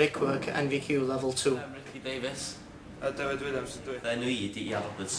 Brickwork NVQ Level 2. Dwi Richie Davies. A Dyfed Williams ydw i. Fy enw i ydi Ian Roberts.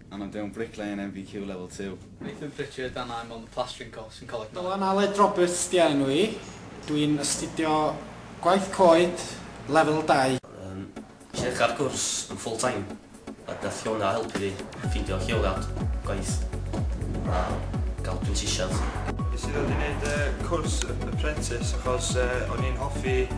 a mae'n byw yn Bricklane yn MVQ Level Two. Nathan Pritchard a mae mond y plastering cost sy'n coleg Noel. Dylan Aled Roberts 'di enw i, dwi'n astudio Gwaith Coed Lefel Dau. Yym, nes i ddechrau'r cwrs yn full time ac nath Fiona helpu fi ffeindio lleoliad gwaith a ga'l prentisiad. Nes i ddod i neud y cwrs apprentice achos o'n i'n hoffi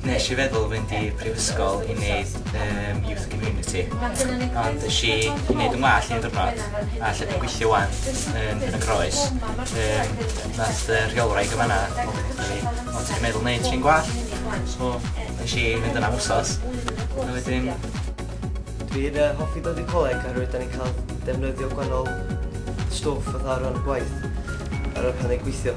Nes i feddwl fynd i prifysgol i neud yym youth community ond es i i neud 'yn ngwallt un diwrnod a lle dwi'n gweithio ŵan yn Penygroes yym nath y rheolwraig yn fanna ofyn wrtha fi o ti 'di meddwl neud trin gwallt? So nesh i fynd yna am wsos a wedyn Dwi'n yy hoffi dod i coleg oherwydd 'dan ni'n ca'l defnyddio gwanol stwff fatha o ran gwaith a ran pan ni'n gweithio.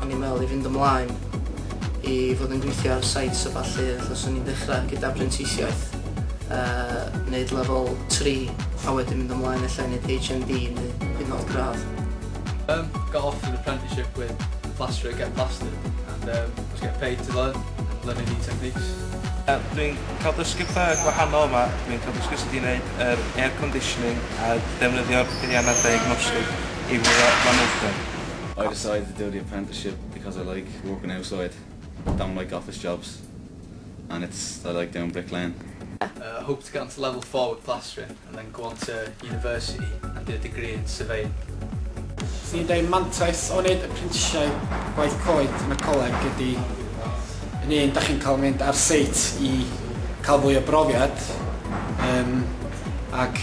O'n i'n meddwl i fynd ymlaen i fod yn gweithio ar sites a ballu, felly 'swn i'n dechrau gyda prentisiaeth, yy neud lefel tri a wedyn mynd ymlaen ella i neud HND neu hyd yn o'd gradd. Erm, got off an apprenticeship with the plasterer getting plastered and erm was getting paid to learn and learning new techniques. Erm, dwi'n cael dysgu petha gwahanol yma, dwi'n cael dysgu sut i neud yr air conditioning a defnyddio'r peiriannau diagnostic i fwrw manylder. I decided to do the apprenticeship because I like working outside, don't like office jobs and it's I like doing bricklaying. I hope to get onto level four with plastering and then go on to university and do a degree in surveying. Swn i'n dweud mantais o wneud apprentisiaeth gwaith coed yn y coleg ydy yn un, da chi'n cael mynd ar seit i cael fwy o brofiad um, ac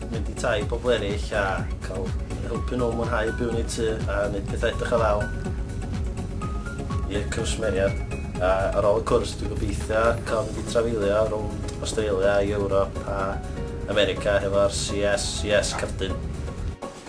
mynd i tai pobl eraill a cael helpu nhw mwynhau byw yn eu tŷ a wneud pethau edrych o ddawl i'r cwsmeriaid. A ar ôl y cwrs dwi'n gobeithio cael mynd i trafeilio rownd Australia, Ewrop a America hefo'r CSCS Cerdyn.